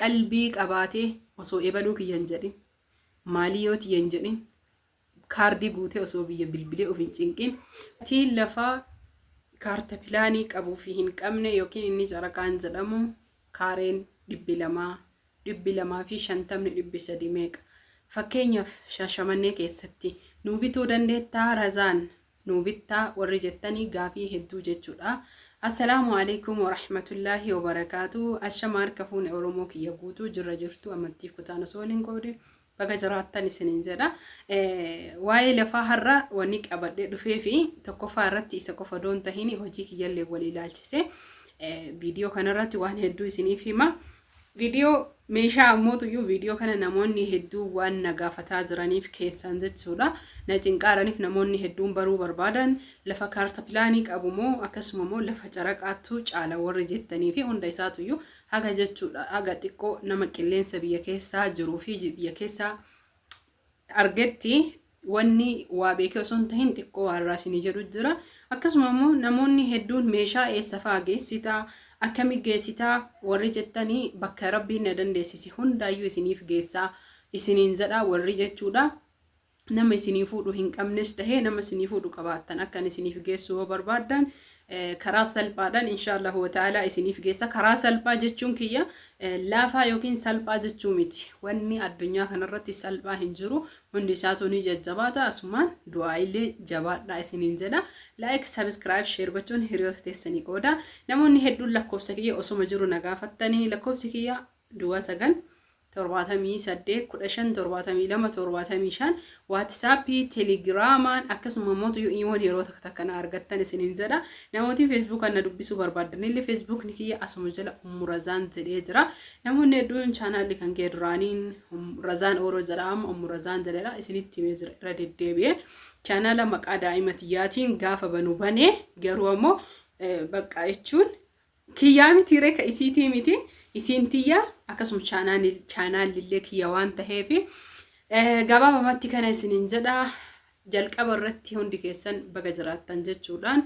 qalbii qabaatee osoo ebaluu kiyya hin jedhin maalii yoo tiyya hin jedhin kaardii guutee osoo biyya bilbilee of hin cinqin tiin lafaa kaarta pilaanii qabuu fi hin qabne yookiin inni caraqaan jedhamu kaareen dhibbi lamaa dhibbi lamaa fi shantamni dhibbi sadii meeqa fakkeenyaaf shaashamannee keessatti nuu bituu dandeettaa razaan nuu bittaa warri jettanii gaafii hedduu jechuudha. Assalaamu alaikum warahmatullaahi wabarakaatu. Ashama harka fuune Oromoo kiyya guutuu jirra jirtu amantiif kutaan osoo waliin qoodin baga jiraattan isiniin jedha. Waa'ee lafaa har'a wanni qabadhee dhufee fi tokkoffaa irratti isa qofa doon tahin hojii kiyyallee walii ilaalchise viidiyoo kanarratti waan hedduu isiniif hima. Video meeshaa ammootuyyuu video kana namoonni hedduun waan na gaafataa jiraniif keessaan jechuudha. Na cinqaaraniif namoonni hedduun baruu barbaadan lafa kaarta pilaanii qabu moo akkasuma moo lafa caraqaattuu caala warri jettanii fi hunda isaatuyyuu haga jechuudha haga xiqqoo nama qilleensa biyya keessaa jiruu fi biyya keessaa argetti wanni waa beekee osoo hin tahin xiqqoo waan irraa isinii jedhu jira. Akkasuma immoo namoonni hedduun meeshaa eessa fa'aa geessita, akkami geessita warri jettanii bakka rabbiin na dandeessise hundaayyuu isiniif geessaa isiniin jedha warri jechuudha. Nama isinii fuudhu hin qabnes tahee nama isinii fuudhu qabaattan akkan isiniif geessu yoo barbaaddan karaa salphaadhaan insha Allahu wa ta'ala isiniif geessa. Karaa salphaa jechuun kiyya laafaa yookiin salphaa jechuu miti. Wanni addunyaa kanarratti salphaa hin jiru. Hundi isaatu ni jajjabaata. Asumaan du'aa illee jabaadhaa isiniin jedha. Like, subscribe, share gochuun hiriyoota teessanii qooda. Namoonni hedduun lakkoofsa kiyya osoma jiru na gaafattanii lakkoofsi kiyya Duwwaa 9 78 15 72 75 waatisaappii telegiraamaan akkasuma immoo tuyuu iimoon yeroo takka takka na argattan isiniin jedha namootiin feesbuukaan na dubbisuu barbaadan illee feesbuukni kiyya asuma jala ummu razaan jedhee jira namoonni hedduun chaanaalli kan kee duraaniin razaan ooroo jedha amma ummu razaan jedhedha isinitti himee jira irra deddeebi'ee chaanaala maqaa daa'ima tiyyaatiin gaafa banu banee garuu ammoo bakka jechuun Kiyyaa mitii ree ka isiitii miti isiin tiyya akkasuma chaanaallillee kiyya waan taheef gabaabamatti kana isiniin jedha jalqaba irratti hundi keessan baga jiraattan jechuudhaan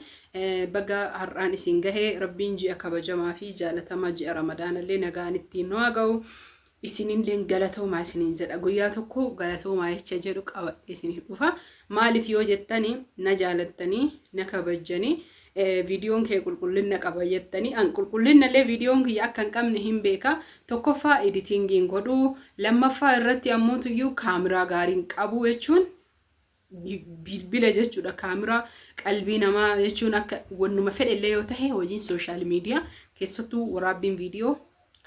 baga har'aan isin gahee rabbiin ji'a kabajamaa fi jaalatamaa ji'a ramadaanallee nagaan ittiin nu haa ga'u isinilleen galatoomaa isiniin jedha guyyaa tokko galatoomaa jecha jedhu qabadhe isiniif dhufa maaliif yoo jettanii na jaalattanii na kabajjanii viidiyoon kee qulqullina qaba jettanii an qulqullina illee viidiyoon kiyya akka hin qabne hin beeka tokkoffaa editingiin godhuu lammaffaa irratti ammoo tuyyuu kaameraa gaariin qabuu jechuun bilbila jechuudha kaameraa qalbii namaa jechuun akka wannuma fedhe illee yoo tahe hojiin sooshaal miidiyaa keessattuu waraabbiin viidiyoo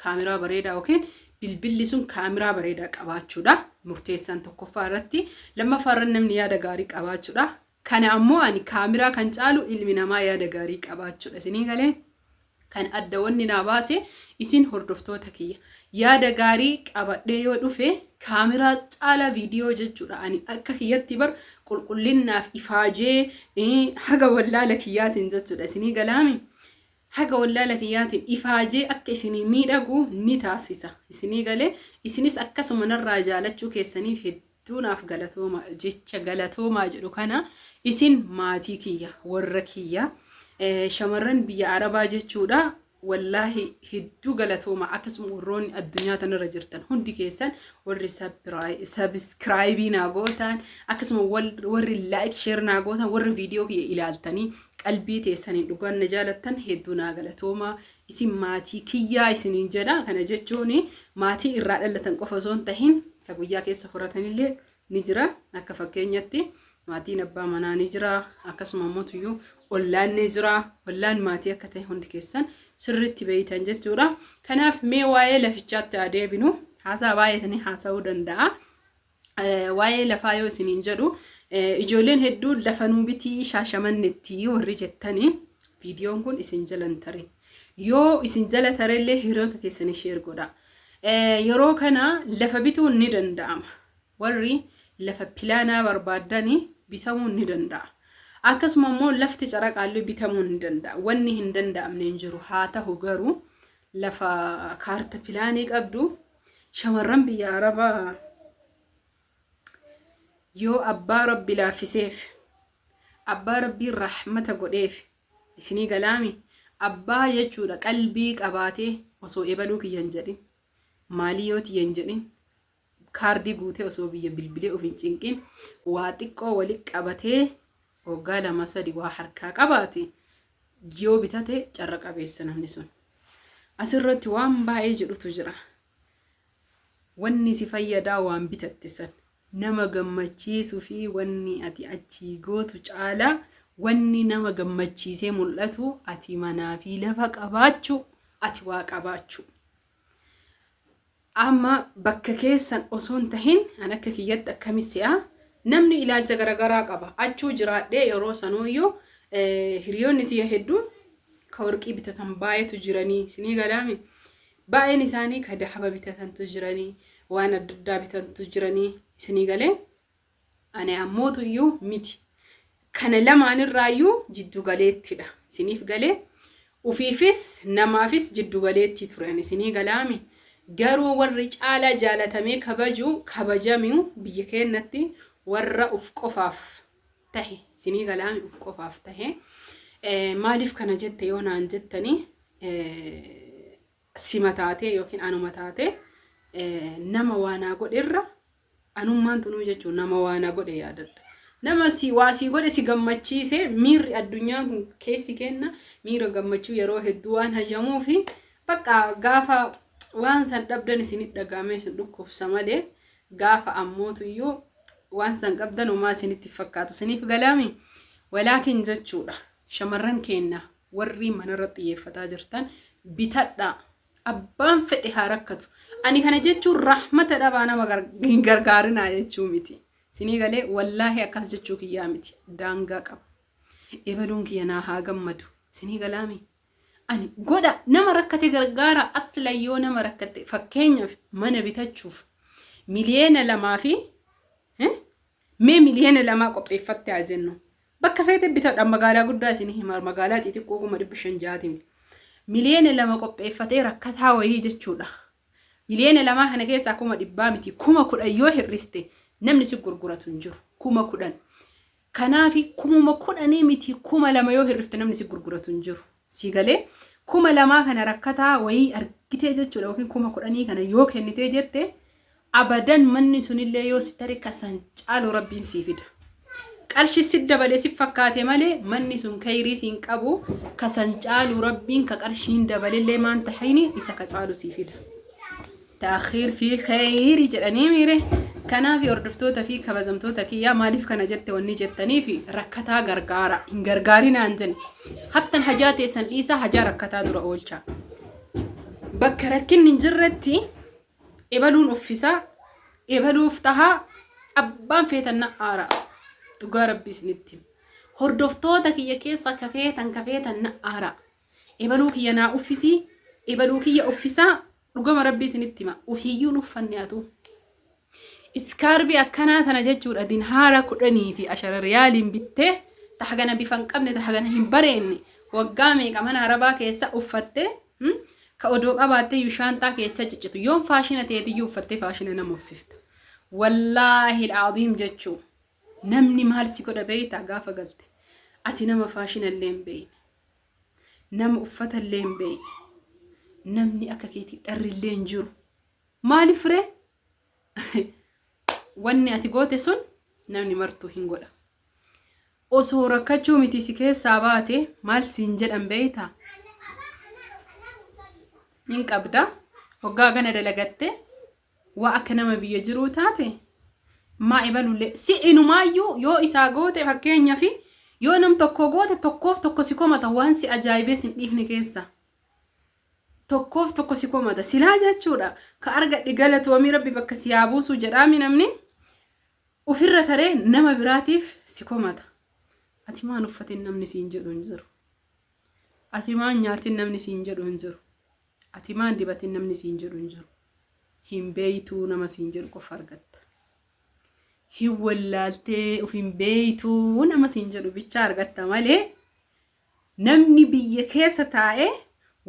kaameraa bareedaa yookiin bilbilli sun kaameraa bareedaa qabaachuudha murteessaan tokkoffaa irratti lammaffaa irratti namni yaada gaarii qabaachuudha kana ammoo ani kaameraa kan caalu ilmi namaa yaada gaarii qabaachuudha isinii galee Kan adda wanni naa baase isin hordoftoota kiyya. Yaada gaarii qabadhee yoo dhufe kaamiraa caala viidiyoo jechuudha. Ani akka kiyyatti bar qulqullinnaaf ifaajee eh, haga wallaala kiyyaatiin jechuudha. Isinii galaami? Haga wallaala kiyyaatiin ifaajee akka isinii miidhagu ni taasisa. Isinii galee isinis akkasuma narraa jaalachuu keessaniif hedduu hedduu naaf galatooma jecha galatoomaa jedhu kana isin maatii kiyya warra kiyya eh, shamarran biyya arabaa jechuudha wallaahi hedduu galatooma akkasuma warroonni addunyaa tanarra jirtan hundi keessan warri sabiskiraayibii naa gootan akkasuma wal- warri laayik sheer naa gootan warri viidiyoo kiyya ilaaltanii qalbii teessaniin dhugaan na jaalattan hedduu naa galatooma isin maatii kiyyaa isiniin jedha kana jechuun maatii irraa dhalatan qofa osoo hin tahin ka guyyaa keessa horatanillee ni jira akka fakkeenyatti maatiin abbaa manaa ni jira akkasuma immoo tuyyuu ollaan ni jira ollaan maatii akka ta'e hundi keessan sirriitti beeytan jechuudha kanaaf mee waa'ee lafichaatti haa deebinu haasaa baay'ee isinii haasa'uu danda'a waa'ee lafaa yoo isiniin jedhu ijoolleen hedduu lafa nuu bitii shaashamannetti warri jettanii viidiyoon kun isin jalan tare yoo isin jala tarellee hiriyoota teessanii sheer godha yeroo kana lafa bituun ni danda'ama warri lafa pilaanaa barbaaddanii bitamuun ni danda'a akkasuma immoo lafti caraqaallee bitamuun ni danda'a wanni hin danda'amne hin jiru haa ta'u garuu lafa kaarta pilaanii qabdu Shamarran biyya Arabaa yoo abbaa rabbi laaffiseef abbaa rabbii rahmata godheef isinii galaami abbaa jechuudha qalbii qabaatee osoo ebaluu kiyya hin jedhin maalii yoo tiyya hin jedhin kaardii guutee osoo biyya bilbilee of hin cinqin waa xiqqoo wali qabatee Waggaa lama sadi waa harkaa qabaate yoo bitate carra qabeessa namni sun. Asirratti waan baay'ee jedhutu jira. Wanni si fayyadaa waan bitatte san. Nama gammachiisuu fi wanni ati achii gootu caalaa wanni nama gammachiisee mul'atu ati manaa fi lafa qabaachuu ati waa qabaachuu. Amma bakka keessan osoo hin tahin an akka kiyyatti akkami se'a namni ilaalcha garagaraa qaba achuu jiraadhee yeroo sanuuyyuu hiriyoonni tiyya hedduun ka warqii bitatan baay'eetu jiranii sinii galaami baay'een isaanii ka dahaba bitatantu jiranii waan adda addaa bitantu jiranii sinii galee Ani ammootu iyyuu miti. Kana lamaan irraa iyyuu jiddu galeettidha. Isiniif galee? Ufiifis namaafis jiddu galeettii ture ani isinii galaami? Garuu warri caalaa jaalatamee kabaju kabajamiu biyya keennatti warra uf qofaaf tahe isinii galaami uf qofaaf tahe maaliif kana jette yoo naan jettanii sima taatee yookiin anuma taatee nama waanaa godherra Anummaan tunuu jechuun nama waa na godhe yaadadha. Nama waa sii godhe si gammachiise miirri addunyaan kun keessi kenna miira gammachuu yeroo hedduu waan hajamuufi bakka gaafa waan san dhabdan isin dhagaamee sun dhukkubsa malee gaafa ammootuyyuu waan san qabdan homaa isinitti fakkaatu isiniif galaami walaakin jechuudha shamarran keenna warri manarra xiyyeeffataa jirtan bitadhaa Abbaan fedhe haa rakkatu. Ani kana jechuun rahmata dhabaa nama hin gargaarinaa jechuu miti. Sinii galee wallaahi akkas jechuu kiyyaa miti. Daangaa qaba. Ebaluun kiyya naa haa gammadu. Sinii galaami. Ani godha nama rakkate gargaara asla yoo nama rakkate fakkeenyaaf mana bitachuuf miliyeena lamaa fi Mee miliyoona lamaa qopheeffatte haa jennu. Bakka feete bitadha magaalaa guddaa isin hima magaalaa xixiqqoo kuma dhibba shan ja'aati miti. Miliyoona lama qopheeffatee rakkataa wayii jechuudha. Miliyoona lamaa kana keessaa kuma dhibbaa miti kuma kudhan yoo hir'iste namni si gurguratu hin jiru kuma kudhan. Kanaafi kumuma kudhanii miti kuma lama yoo hir'ifte namni si gurguratu hin jiru. Sii galee kuma lamaa kana rakkataa wayii argitee jechuudha yookiin kuma kudhanii kana yoo kennitee jette abadan manni sunillee yoo si tare kasan caalu rabbiin sii fida. Qarshi si dabalee si fakkaate malee manni sun kayrii siin qabu kasan caalu rabbiin ka qarshiin dabalellee maan tahini isa ka caalu sii fida. Ta'akhiir fi kheyri jedhanii miire kanaafi hordoftoota fi kabajamtoota kiyyaa maaliif kana jette wanni jettaniif rakkataa gargaara hin gargaarinaan jenne hattan hajaa teessan dhiisaa hajaa rakkataa dura oolchaa bakka rakkinni hin jirretti ebaluun uffisaa ebaluuf tahaa abbaan feetanna aara dhugaa rabbii isinitti hordoftoota kiyya keessaa kafeetan kafeetan na aara Ebaluu kiyya naa uffisii ebaluu kiyya uffisaa dhugama rabbii isinitti hima ufiiyyuu nuffanne atuu iskaarbii akkanaa tana jechuudha dinhaara kudhanii fi ashara riyaaliin bittee ta hagana bifa hin qabne ta hagana hin bareenne waggaa meeqa mana arabaa keessa uffatte hmm? ka odoo qabaattee iyyuu shaanxaa keessa ciccitu yoon faashina teetiyyuu uffattee faashina nama uffifta wallaahi alcaziim jechuu Namni maal si godha beektaa gaafa galte? Ati nama faashina illee hin beekne. Nama uffata illee hin beekne. Namni akka keetii dharri illee hin jiru. Maaliif firee? Wanni ati goote sun namni martuu hin godha. Osoo rakkachuu miti si keessaa baate maal siin jedhan beektaa? Hin qabda. Hoggaa gana dalagattee waa akka nama biyya jiruu taate maa ebalullee si inumaayyuu yoo isaa goote fakkeenyaaf yoo nam tokko goote tokkoof tokko si komata waan si ajaa'ibee sin dhiifne keessa tokkoof tokko si komata silaa jechuudha ka argadhe galatoomii rabbi bakka si haa buusuu jedhaami namni ofirra taree nama biraatiif si komata ati maan uffatin namni siin jedhu hin jiru ati maan nyaatin namni siin jedhu hin jiru Ati maa hin dibatin namni siin jedhu hin jiru. Hin beeytuu nama siin jedhu qofa argatta. Hin wallaaltee of hin beeytuu nama siin jedhu bichaa argatta malee namni biyya keessa taa'ee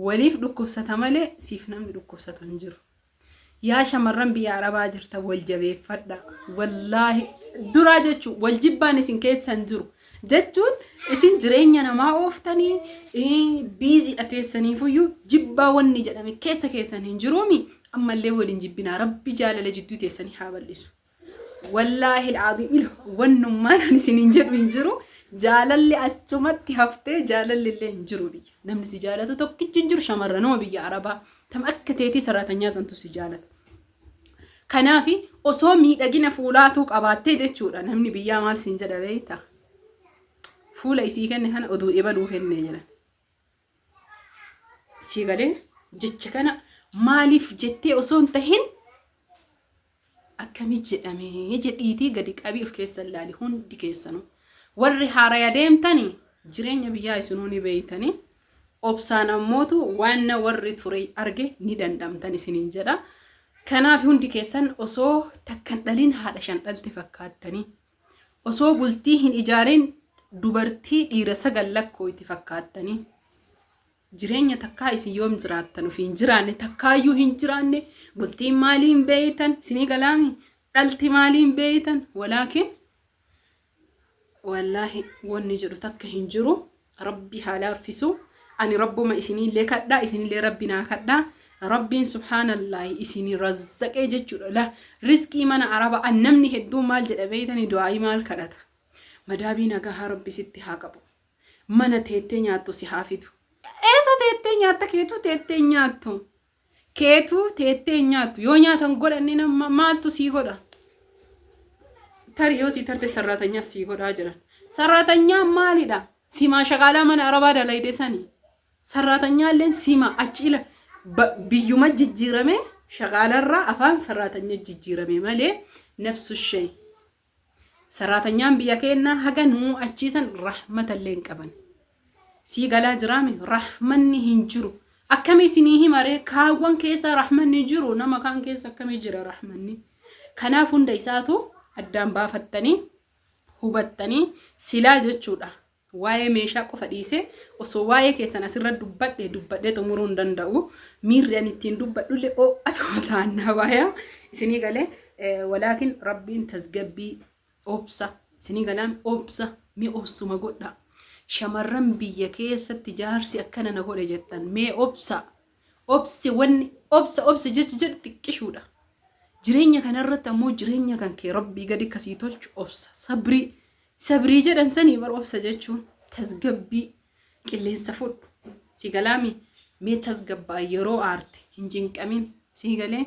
waliif dhukkubsata malee siif namni dhukkubsatu hin jiru. Yaa shamarran biyya arabaa jirtan wal jabeeffadha. Wallaahi duraa jechuun wal jibbaan isin keessan jiru. Jechuun isin jireenya namaa ooftanii biiziidha teessaniifuyyuu jibbaa wanni jedhame keessa keessan hin jiruumi. Ammallee waliin jibbinaa rabbi jaalala jidduu teessanii haa bal'isu. Wallaahi alaaziim ilo wannummaan ani isiniin jedhu hin jiru. Jaalalli achumatti haftee jaalalli illee hin jiru biyya. Namni si jaalatu tokkichi hin jiru shamarranuma biyya Arabaa. Tam akka teetii saraatanyaa santu si jaalata. Kanaaf osoo miidhagina fuulaatuu qabaattee jechuudha namni biyyaa maal siin jedha beekta. Fuula isii kenne kana oduu ebaluu kennee jiran. sii galee jecha kana maaliif jettee osoo hin tahin akkamii jedhamee jedhiitii gadi qabii of keessa ilaali hundi keessanu warri haaraya deemtani jireenya biyyaa isinuu ni beeytani obsaan ammootu waan na warri ture arge ni dandhamtan isiniin jedha kanaaf hundi keessan osoo takkan dhaliin haadha shan dhalte fakkaattanii Osoo bultii hin ijaarin dubartii dhiira sagal lakkooyti fakkaattanii. Jireenya takkaa isin yoom jiraattan ofi hin jiraanne takkaayyuu hin jiraanne bultiin maalii hin beeytan isinii galaami dhalti maalii hin beeytan walaakin wallaahi wanni jedhu takka hin jiru Rabbi haa laaffisu. Ani rabbuma isiniillee kadhaa isinillee rabbi naa kadhaa. Rabbiin subhaanallaahi isin razzaqee jechuudha. La rizqii mana araba an namni hedduun maal jedha beeytani du'aayii maal kadhata. Madaabii nagahaa rabbi sitti haa qabu. Mana teettee nyaattu si haa fidu. Eessa teettee nyaatta keetu teettee nyaattu. keetu teettee hin nyaattu yoo nyaatan godhanne nama maaltu sii godha tari yoo sii tarte sarraatanyaa sii godhaa jiran sarraatanyaa maalidha simaa shaqaalaa mana arabaa dalayde sani sarraatanyaa illeen sima achi ila ba- biyyuma jijjiirame shaqaalarraa afaan sarraatanya jijjiirame malee nafsu shay Sarraatanyaan biyya keennaa haga nu achiisan rahmatallee hin qaban. Sii galaa jiraami rahmanni hin jiru. Akkamii isinii himaree kaawwan keessaa rahmanni jiru nama kaan keessa akkamii jira rahmanni. Kanaaf hunda isaatu addaan baafattanii hubattanii silaa jechuudha. Waa'ee meeshaa qofa dhiisee osoo waa'ee keessan asirra dubbadhe dubbadhee xumuruu hin danda'u. Miirri ani ittiin dubbadhullee oo'atuma taannaa waayaa isinii galee walaakin rabbiin tasgabbii obsa isinii galaan obsa mee obsuma godhaa. Shamarran biyya keessatti jaarsi akkana na godhe jettan mee obsa obsi wanni obsa obsa jecha jedhu xiqqishuudha. Jireenya kanarratti ammoo jireenya kan kee rabbii gadi kasii tolchu obsa sabrii Sabrii jedhan sanii bar obsa jechuun tasgabbii qilleensa fudhu si galaami mee tasgabbaa yeroo aarte hin cinqamin si galee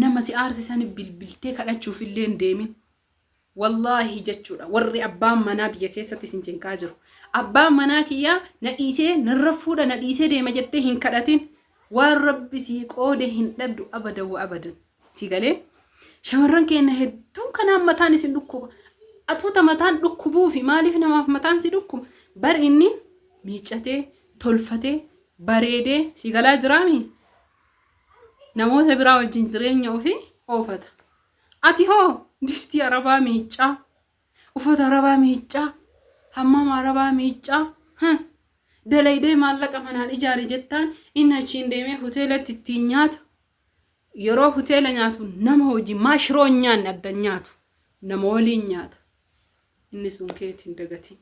nama si aarse sani bilbiltee kadhachuuf illee hin deemin wallaahi jechuudha warri abbaan manaa biyya keessatti isin cinqaa jiru abbaan manaa kiyyaa na dhiisee narra fuudha na dhiisee deema jettee hin kadhatin waan rabbi sii qoode hin dhabdu abada wa abadan Si galee shamarran keenya hedduun kanaan mataan isin dhukkuba. Atuuta mataan dhukkubuu fi maaliif namaaf mataan si dhukkuba? Bar inni miiccatee, tolfatee, bareedee si galaa jiraami. Namoota biraa wajjin jireenya ofii oofata. Ati hoo distii arabaa miiccaa, uffata arabaa miiccaa, hammama arabaa miiccaa, huh, dalaydee maallaqa manaan ijaari jettaan inni achiin deemee hoteelatti ittiin nyaata. yeroo hoteela nyaatu nama hojii maa shiroo hin nyaanne adda hin nyaatu nama waliin nyaata inni sun keeti hin dagatiin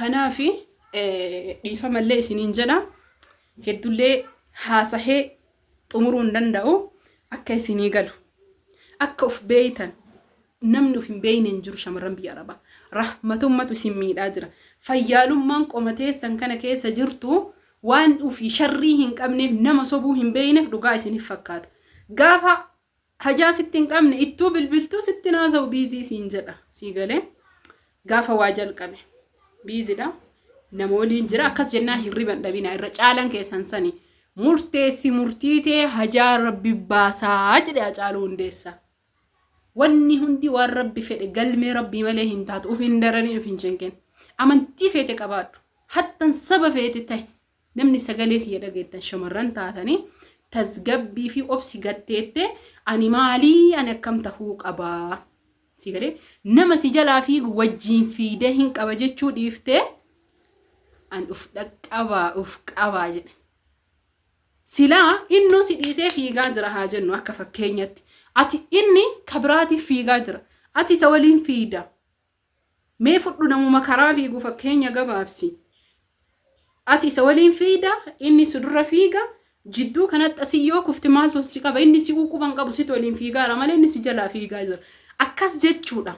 kanaafi eh, dhiifamallee isiniin jedha heddullee haasahee xumuruu hin danda'u akka isinii galu akka of beeytan Namni of hin beekne hin jiru shamarran biyya arabaa. Rahmatummatu isin miidhaa jira. Fayyaalummaan qoma teessan kana keessa jirtu waan ofii sharrii hin qabneef nama sobuu hin beekneef dhugaa isinif fakkaata. Gaafa hajaa sitti hin qabne ittuu bilbiltuu sitti naasa'u biizii siin jedha. Sii galee gaafa waa jalqabe biizidha. Nama waliin jira akkas jennaa hirriban dhabina irra caalan keessan sani. Murteessi murtiitee hajaa rabbi baasaa jedhe Hacaaluu Hundeessaa. Wanni hundi waan rabbi fedhe galmee rabbii malee hin taatu uf hin dararin uf hin cinqin. Amantii feete qabaadhu. Hattan saba feete tahi. Namni sagalee kiyya dhageettan shamarran taatanii tasgabbii fi obsi gatteette ani maalii ani akkam tahuu qabaa. Si galee nama si jalaa fiigu wajjiin fiidee hin qaba jechuu dhiiftee an uf dhaqqabaa uf qabaa jedhe. Silaa innuu si dhiisee fiigaa jira haa jennu akka fakkeenyatti. Ati inni ka biraatiif fiigaa jira. Ati isa waliin fiigda. Mee fudhu namuma karaa fiigu fakkeenya gabaabsi. Ati isa waliin fiigda, inni si dura fiiga, jidduu kanatti asii yoo kufte maaltu si qaba? Inni si quban qabu situ waliin fiigaara malee inni si jalaa fiigaa jira. Akkas jechuudha.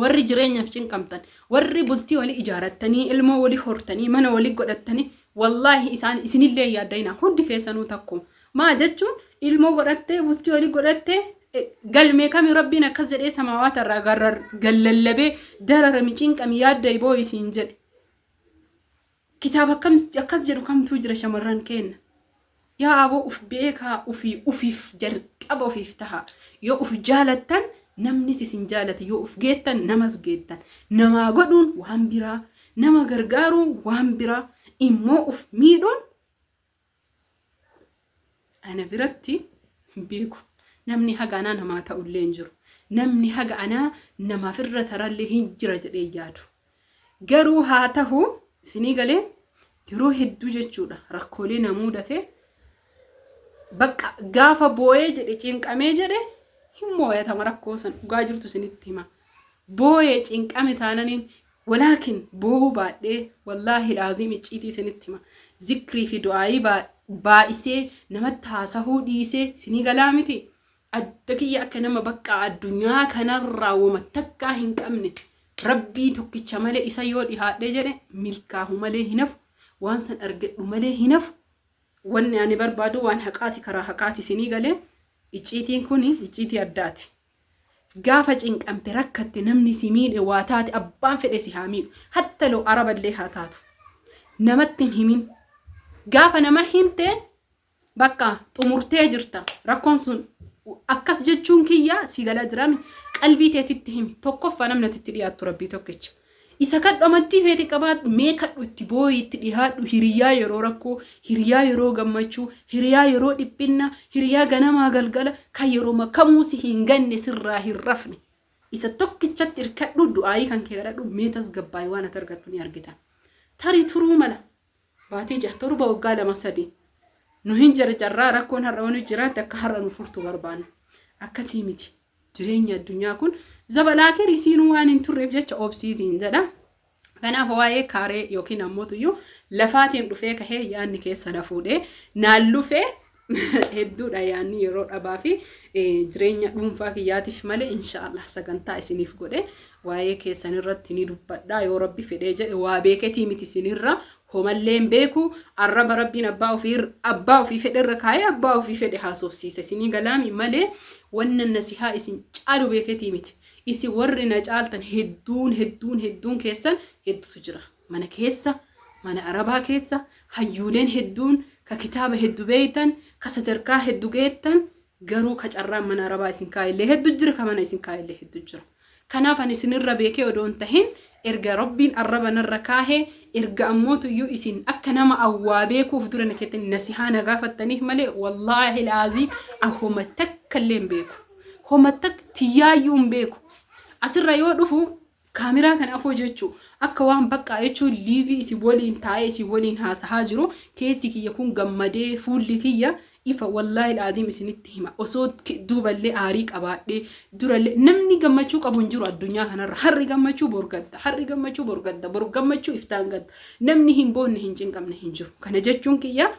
Warri jireenyaaf cinqamtan, warri bultii wali ijaarattanii, ilmoo wali hortanii, mana wali godhattanii, wallaahi isaan isinillee yaaddaina hundi keessanuu takku. Maa jechuun ilmoo godhattee, bultii wali godhattee, e, galmee kami rabbiin akkas jedhee samaawaata irraa garrar gallallabee dararami cinqami yaadda iboo isiin jedhe. Kitaaba akkam akkas jedhu kamtuu jira shamarran keenna. Yaa aboo uf beekaa ufii ufiif jalqaba ufiif taha. Yoo uf jaalattan namnis isin jaalata. Yoo uf geettan namas geettan. Namaa godhuun waan biraa, nama gargaaruun waan biraa, immoo uf miidhuun ana biratti hin beeku. Namni haga anaa namaa ta'ullee hin jiru. Namni haga anaa namaaf irra tarallee hin jira jedhee yaadu. Garuu haa tahu isinii galee yeroo hedduu jechuudha rakkoolee na muudate bakka gaafa booyee jedhe cinqamee jedhe hin mooyatama rakkoo san dhugaa jirtu isinitti hima. Booyee cinqame taananiin walaakin boohuu baadhee wallaahi laaziim icciitii isinitti hima. Zikrii fi du'aayii baay'isee namatti haasahuu dhiisee isinii galaa miti. Adda kiyya akka nama bakka addunyaa kanarraa woma takkaa hin qabne rabbii tokkicha malee isa yoo dhihaadhee jedhe milkaahu malee hin hafu waan san argadhu malee hin hafu wanni ani barbaadu waan haqaati karaa haqaati isinii galee icciitiin kun icciitii addaati. Gaafa cinqamte rakkatte namni si miidhe waa taate abbaan fedhe si haa miidhu hatta loo araballee haa taatu namatti hin himin gaafa nama himte Bakka xumurtee jirta rakkoon sun akkas jechuun kiyya si gala jirami qalbii teetitti himi tokkoffaa namni ati itti dhiyaattu rabbii tokkicha isa kadhu amantii feete qabaadhu mee kadhu itti booyi itti dhihaadhu hiriyaa yeroo rakkoo hiriyaa yeroo gammachuu hiriyaa yeroo dhiphinna hiriyaa ganamaa galgala kan yeroo makamuu si hin ganne sirraa hin rafne isa tokkichatti irkadhu du'aayii kan kee kadhadhu mee tasgabbaa'ii waan ati argattu ni argita tarii turuu mala Baatii jaha torba waggaa lama sadi nu hin jarjarraa rakkoon har'a wani jiraatti akka har'a nu furtu barbaanna. Akkasii miti. Jireenya addunyaa kun zabalaakiir isiinuu waan hin turreef jecha obsiisiin jedha. Kanaaf waa'ee kaaree yookiin ammoo tuyyuu lafaatiin dhufee kahee yaadni keessa na fuudhee naan lufee hedduudha yaanni yeroo dhabaa fi jireenya dhuunfaa kiyyaatiif malee inshaallah sagantaa isiniif godhe waa'ee keessan irratti ni dubbadha yoo rabbi fedhee jedhe waa beeketii miti isinirra homalleen beeku arraba rabbiin abbaa ofii abbaa ofii fedhe irra kaa'ee abbaa ofii fedhe haasofsiisa isinii galaami malee wanna nasihaa isin caalu beeketii miti isin warri na caaltan hedduun hedduun hedduun keessan hedduutu jira. Mana keessa, mana Arabaa keessa hayyuuleen hedduun ka kitaaba heddu beeytan, ka sadarkaa heddu geettan, garuu ka carraan mana Arabaa isin kaayellee heddu jira, ka mana isin kaayellee heddu jira. Kanaaf ani isin irra beekee odoo hin tahin, erga Rabbiin arraba narra kaahe, erga ammootuyyuu isin akka nama an waa beeku uf dura na keettanii nasihaa na gaafattaniif malee, wallaahil aziim an homa takkallee hin beeku. Homa takka tiyyaayyuu hin beeku. Asirra yoo dhufu Camera kan afoo jechu akka waan baqqaa jechuun liivii isin waliin taa'ee isin waliin haasahaa jiru keessi kiyya kun gammadee fuulli kiyya ifa wallaahi laaziim isinitti hima osoo duuballee aarii qabaadhee durallee namni gammachuu qabu hin jiru addunyaa kanarra harri gammachuu borgadda harri gammachuu borgadda bor gammachuu iftaan gadda namni hin boonne hin cinqamne hin jiru kana jechuun kiyya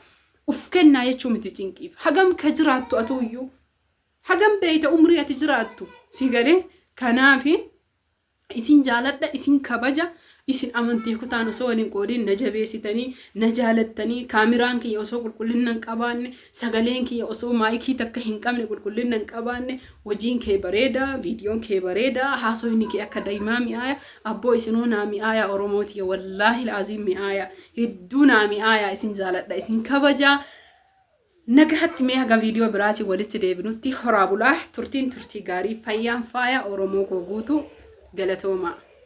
uf kennaa jechuu miti cinqiif hagam ka jiraattu atuuyyuu hagam beeyta umrii ati jiraattu si galee kanaafi isin jaaladha isin kabaja isin amantii kutaan osoo waliin qoodiin na jabeessitanii na jaalattanii kaamiraan kiyya osoo qulqullina hin qabaanne sagaleen kiyya osoo maayikii takka hin qabne qulqullina hin qabaanne hojiin kee bareeda viidiyoon kee bareeda haasofni kee akka daa'imaa mi'aaya abboo isinuu naa mi'aaya oromoo tiyya wallaahi laaziin mi'aaya hedduu naa mi'aaya isin jaaladha isin kabajaa Nagahatti mee haga viidiyoo biraatiin walitti deebinutti horaa bulaa turtiin turtii gaarii fayyaan faaya Oromoo koo guutuu galatoomaa.